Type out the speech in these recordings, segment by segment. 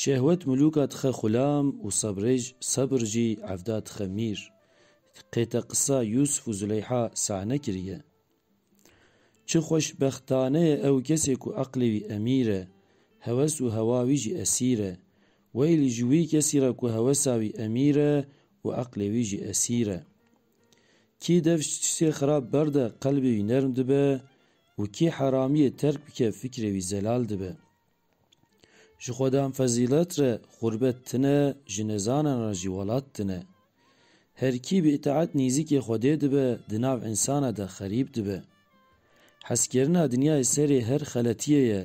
Şehwet milûka dixe xulam û sebrêj sebr jî evda dixe mîr. Qête qisa Yûsif û Zuleyha sahne kiriye. Çi xweşbextane ye ew kesê ku eqlê wî emîr e, heves û hewa wî jî esîr e. Weylî ji wî kesî re ku hewesa wî emîr e û eqlê wî jî esîr e. Kî dev ji tiştê xirab berde qelbê wî nerm dibe Û kê heramiyê terk bike fikrê wî zelal dibe. Ji xwedan fezîlet re xurbet tine ji nezanan re jî welat tine. Her kî bi îtaet nîzîkê xwedê dibe di nav însana de xerîb dibe. Hezkirina dinyayê serê her xeletiyê ye,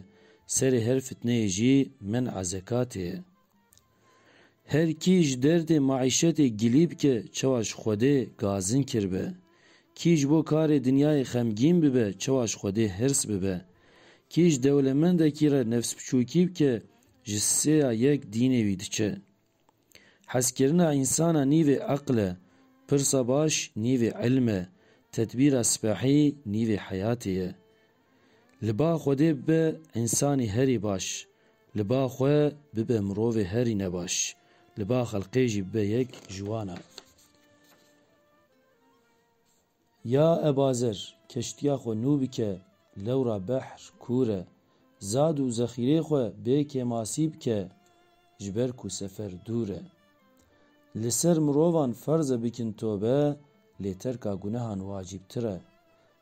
serê her fitneyê jî men'a zekatê ye. Her kî ji derdê maîşetê gilî bike çawa ji Xwedê gazin kirbe. Kî ji bo karê dinyayê xemgîn bibe çawa ji Xwedê hirs bibe. Kî ji dewlemendekî re nefsbiçûkî bike ji sê ya yek dînê wî diçe. Hezkirina însana nîvê eql e, pirsa baş nîvê îlm e, tedbîra sipehî nîvê heyatê ye. Li ba Xwedê bibe însanî herî baş, li ba xwe bibe mirovê herî nebaş, li ba xelqê jî bibe yek ji wan e. Ya ebazer, keştiya xwe nû bike, lewra behr kûr e, zad û zexîrê xwe bê kêmasî bike, ji ber ku sefer dûr e. Li ser mirovan ferz e bikin tobe, lê terka gunehan wacîbtir e.